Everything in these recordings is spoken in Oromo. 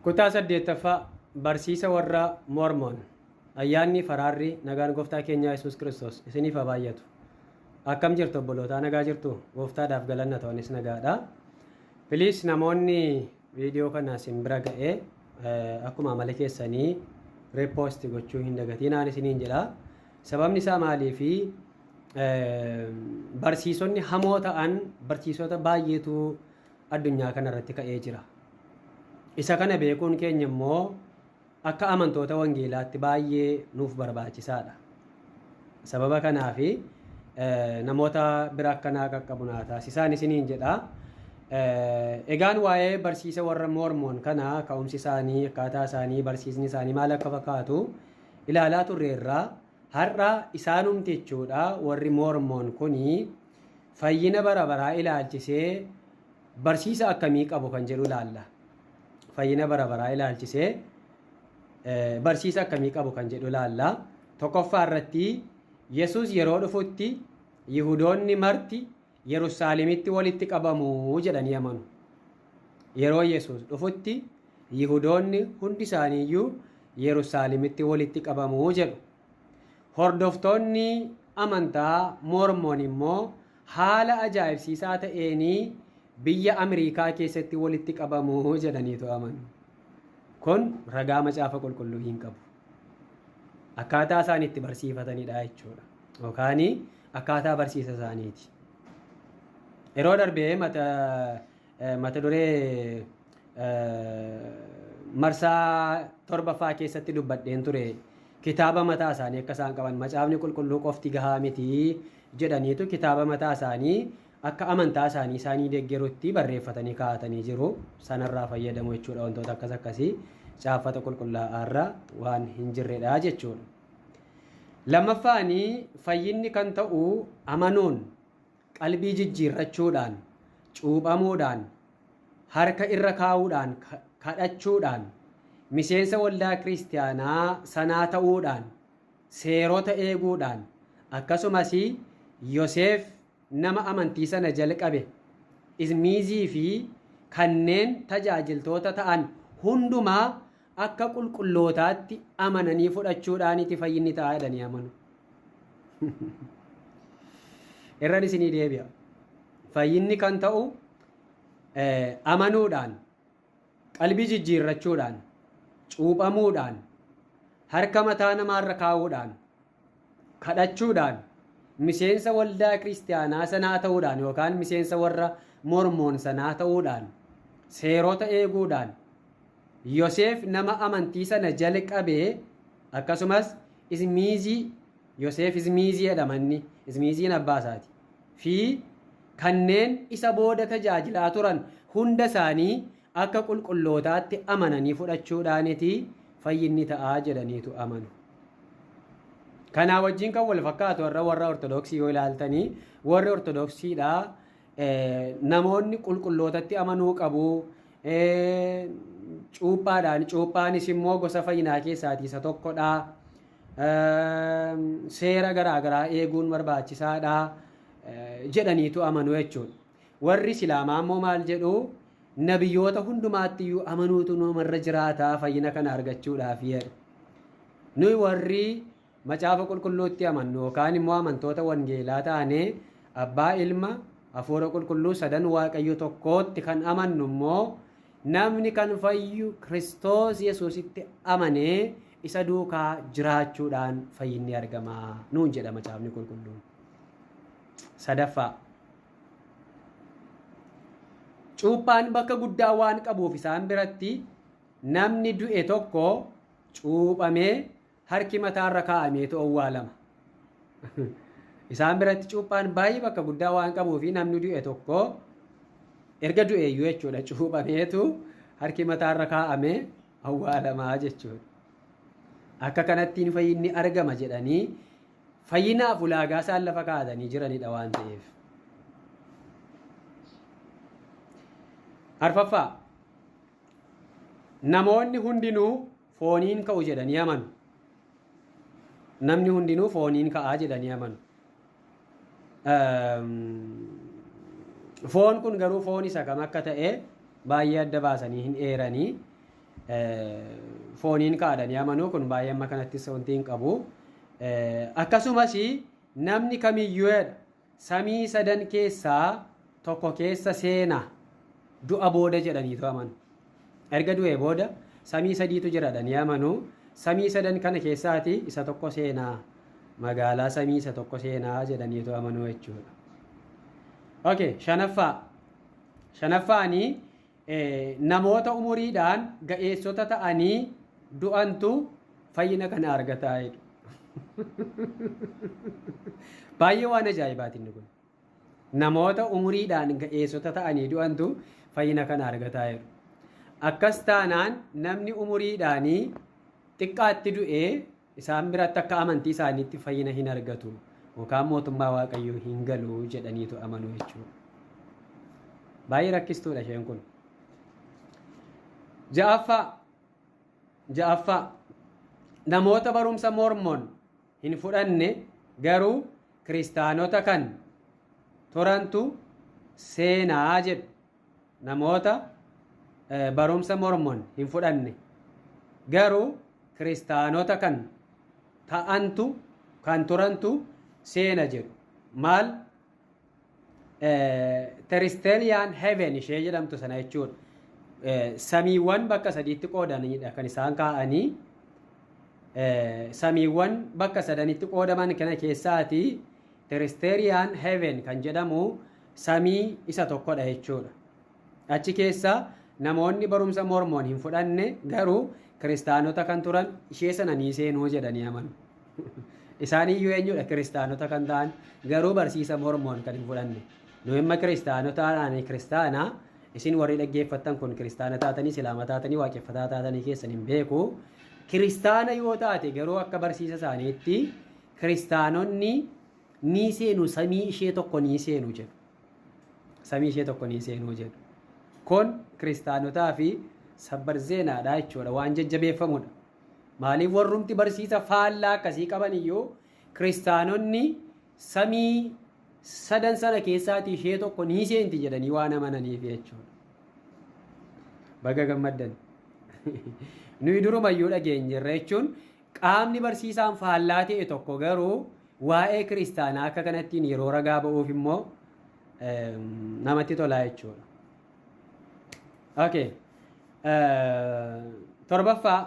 Kutaa saddeettaffaa Barsiisa warra Mormon Ayyaanni faraarri nagaan gooftaa keenyaa Yesuus Kiristoos isiniif haa baay'atu. Akkam jirtu obbolootaa nagaa jirtu gooftaadhaaf galanna ta'anis nagaadha. Piliis namoonni viidiyoo kana isin bira ga'ee akkuma amala keessanii reepoosti gochuu hin dagatinaan isiniin jedha. Sababni isaa maalii fi barsiisonni hamoo ta'an barsiisota baay'eetu addunyaa kana irratti ka'ee jira. Isa kana beekuun keenya immoo akka amantoota wangeelaatti baay'ee nuuf barbaachisaadha. Sababa kanaaf namoota bira akka naa qaqqabu naa taasisaan isiniin jedha. Egaan waa'ee barsiisa warra Moormoon kana ka'umsi isaanii, akkaataa isaanii, barsiisni isaanii maal akka fakkaatu ilaalaa turreerra. Har'a isaanumti jechuudha warri Moormoon kuni Fayyina bara baraa ilaalchisee barsiisa akkamii qabu kan jedhu ilaalla. Fayyina bara baraa ilaalchisee barsiisa akkamii qabu kan jedhu ilaalla. Tokkoffaa irratti Yesuus yeroo dhufutti Yihudoonni marti Yerusaalemitti walitti qabamu jedhanii amanu. Yeroo Yesuus dhufutti Yihudoonni hundi isaaniiyyuu Yerusaalemitti walitti qabamu jedhu. Hordoftoonni amantaa Moormon immoo haala ajaa'ibsiisaa ta'een biyya Amerikaa keessatti walitti qabamu jedhaniitu amanu. Kun ragaa macaafa qulqulluu hin qabu. Akkaataa isaan itti barsiifatanidha jechuudha. Yookaan akkaataa barsiisa isaaniiti. Yeroo darbee mata Mata duree marsaa torbaffaa keessatti dubbadheen ture kitaaba mataa isaanii akka isaan qaban macaafni qulqulluu qofti gahaa miti jedhaniitu kitaaba mataa isaanii akka amantaa isaanii isaanii deeggarutti barreeffatanii kaa'atanii jiru sanarraa fayyadamu jechuudha wantoota akkas akkasii caaffata qulqullaa'aarra waan hin jirredha jechuudha. Lammaffaanii fayyinni kan ta'u amanuun Qalbii jijjiirrachuudhaan, cuuphamuudhaan, harka irra kaa'uudhaan, kadhachuudhaan, miseensa waldaa Kiristiyaanaa sanaa ta'uudhaan, seerota eeguudhaan, akkasumas Yoseef nama amantii sana jalqabe, Ismiizii fi kanneen tajaajiltoota ta'an hundumaa akka qulqullootaatti amananii fudhachuudhaaniti fayyinni ta'a jedhanii amanu. Irran isinii deebi'a. Fayyinni kan ta'u amanuudhaan, qalbii jijjiirrachuudhaan, cuuphamuudhaan, harka mataa namaarra kaa'uudhaan, kadhachuudhaan, miseensa waldaa kiristiyaanaa sanaa ta'uudhaan yookaan miseensa warra Mormoon sanaa ta'uudhaan, seerota eeguudhaan, Yoseef nama amantii sana jalqabe akkasumas Ismiizii, Yoseef Ismiizii jedhama inni, Ismiiziin abbaa isaati, fi kanneen isa booda tajaajilaa turan hunda isaanii akka qulqullootaatti amananii fudhachuudhaaniti fayyinni ta'a jedhaniitu amanu. Kanaa wajjin kan wal fakkaatu warra warra Ortodoksii yoo ilaaltanii warri Ortodoksiidha namoonni qulqullootatti amanuu qabu. Cuuphaadhaan cuuphaanis immoo gosa fayyinaa keessaatii isa tokkodha. Seera garaa garaa eeguun barbaachisaadha jedhaniitu amanu jechuudha. Warri Isilaamaa immoo maal jedhu? Nabiyoota hundumaatti iyyuu amanuutu numarra jiraata fayyina kana argachuudhaaf jedhu. Nuyi warri macaafa qulqulluutti amannu yookaan immoo amantoota wangeelaa taanee abbaa ilma hafuura qulqulluu sadan waaqayyo tokkootti kan amannu immoo namni kan fayyu Kiristoos Yesuusitti amanee isa duukaa jiraachuudhaan fayyinni argama nuun jedha macaafni qulqulluun. Sadaffaa. Cuuphaan bakka guddaa waan qabuuf isaan biratti namni du'e tokko cuuphamee harki mataarra kaa'ameetu owwaalama. Isaan biratti cuuphaan baay'ee bakka guddaa waan qabuuf namni du'e tokko erga du'eeyyuu jechuudha cuuphameetu harki mataarra kaa'amee awwaalamaa jechuudha. Akka kanattiin fayyinni argama jedhanii Fayyinaaf ulaagaa isaan lafa kaa'atanii jiranidha waan ta'eef. Arfaffaa namoonni hundinuu fooniin ka'u jedhanii amanu. Namni hundinuu fooniin ka'aa jedhanii amanu. Foon kun garuu foon isa kam akka ta'e baay'ee adda baasanii hin eeranii fooniin ka'adhanii amanuu kun baay'ee amma kanattis wanti hin qabu. Akkasumas namni kamiyyuedha samii sadan keessaa tokko keessa seena du'a booda jedhaniitu amanu. Erga du'ee booda samii sadiitu jiradha ni amanu. Samii sadan kana keessaati isa tokko seena magaalaa samii isa tokko seena jedhaniitu amanu jechuudha. Okay, shanaffaa. Shanaffaanii Namoota umuriidhaan ga'eessota ta'anii du'antu fayyina kana argata jedhu. Baay'ee waan ajaa'ibaati inni kun. Namoota umuriidhaan ga'eessota ta'anii du'antu fayyina kana argata jedhu. Akkas taanaan namni umuriidhaanii xiqqaatti du'ee Isaan biratti akka amantii isaaniitti fayyina hin argatu yookaan mootummaa Waaqayyoo hin galu jedhaniitu amanu jechuudha. Baay'ee rakkistuudha isheen kun. Ja'affaa ja'affaa namoota barumsa Mormon hin fudhanne garuu kiristaanota kan turantu seenaa jedhu namoota barumsa Mormon hin fudhanne garuu kiristaanota kan ta'antu kan turantu seena jedhu maal teristeliyaan heaven ishee jedhamtu sana jechuudha. Samiiwwan bakka sadiitti qoodanidha kan isaan kaa'anii samiiwwan bakka sadanitti qoodaman kana keessaati teristeliyaan heaven kan jedhamu samii isa tokkodha jechuudha. Achi keessa namoonni barumsa Mormoon hin fudhanne garuu kiristaanota kan turan ishee sana ni seenuu jedhanii amanu. Isaaniyyuu eenyudha kiristaanota kan ta'an garuu barsiisa Mormoon kan hin fudhanne. Nu amma kiristaanota ani kiristaana isin warri dhaggeeffattan kun kiristaana taatanii silaama taatanii waaqeffataa taatanii keessan hin beeku. Kiristaana yoo taate garuu akka barsiisa isaaniitti kiristaanonni nii seenu samii ishee tokko nii seenu jedhu. Samii ishee tokko nii seenu jedhu. Kun kiristaanotaa fi sabbar zeenaadha jechuudha. Waan jajjabeeffamudha. Maaliif warrumti barsiisa faallaa akkasii qaban iyyuu kiristaanonni samii sadan sana keessaatii ishee tokko nii seenti jedhanii waan amananiif jechuudha. Baga gammaddan. Nuyi durumayyuu dhageenyerra jechuun Qaamni barsiisaan faallaa ta'e tokko garuu waa'ee kiristaanaa akka kanattiin yeroo ragaa ba'uuf immoo namatti tolaa jechuudha. Okay. Torbaffaa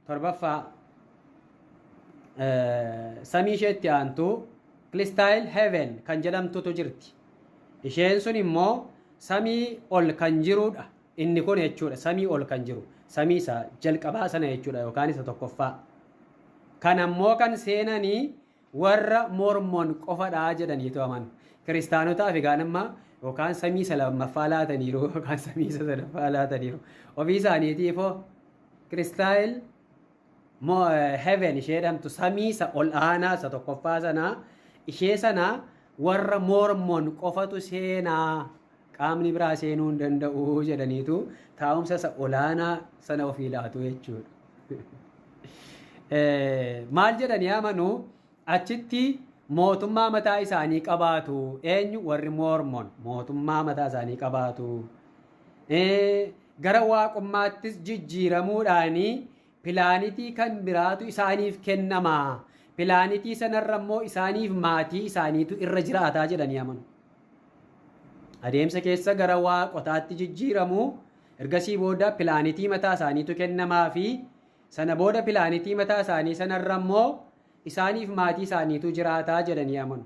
torbaffaa samii isheetti aantu kiristaayil heaven kan jedhamtutu jirti. Isheen sun immoo samii ol kan jirudha. Inni kun jechuudha samii ol kan jiru samii isa jalqabaa sana jechuudha yookaan isa tokkoffaa. Kan ammoo kan seenanii warra Mormon qofadha jedhaniitu amanu. Kiristaanotaaf egaan amma yookaan samii isa lammaffaa laataniiru yookaan samii isa sadaffaa laataniiru. Ofii isaaniitiifoo kiristaayil Mo, heaven ishee jedhamtu samii isa ol aanaa isa tokkoffaa sana ishee sana warra Mormon qofatu seenaa qaamni biraa seenuu hin danda'u jedhaniitu taa'umsa isa olaanaa sana ofii laatu jechuudha. Eh, Maal jedhanii amanuu? Achitti mootummaa mataa isaanii qabaatu. Eenyu? Warri Moormon mootummaa mataa isaanii qabaatu. Gara waaqummaattis jijjiiramuudhaanii pilaanitii kan biraatu isaaniif kennama. Pilaanitii sanarra immoo isaaniif maatii isaaniitu irra jiraataa jedhanii amanu. Adeemsa keessa gara waaqotaatti jijjiiramu. Ergasii booda pilaanitii mataa isaaniitu kennamaa fi sana booda pilaanitii mataa isaanii sanarra immoo isaaniif maatii isaaniitu jiraata jedhanii amanu.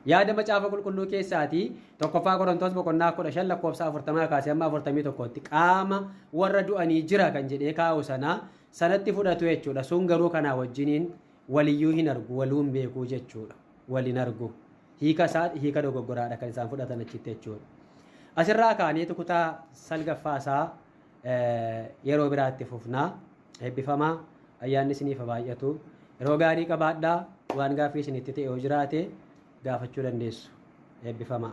Yaada Macaafa Qulqulluu keessaatii tokkoffaa Qorontoos boqonnaa 15 lakkoofsa 40 kaasee amma 41tti qaama warra du'anii jira kan jedhee kaa'u sanaa sanatti fudhatu jechuudha. Sun garuu kanaa wajjiniin waliyyuu hin argu, waluu hin beekuu jechuudha. Wal hin argu. Hiika isaa hiika dogoggoraadha kan isaan fudhatan achitti jechuudha. Asirraa kaaneetu kutaa salgaffaa isaa yeroo biraa itti fufna. Eebbifamaa ayyaanni isiniif haa baay'atu. Yeroo gaarii qabaadhaa waan gaaffii isinitti ta'e yoo jiraate gaafachuu dandeessu. Eebbifamaa.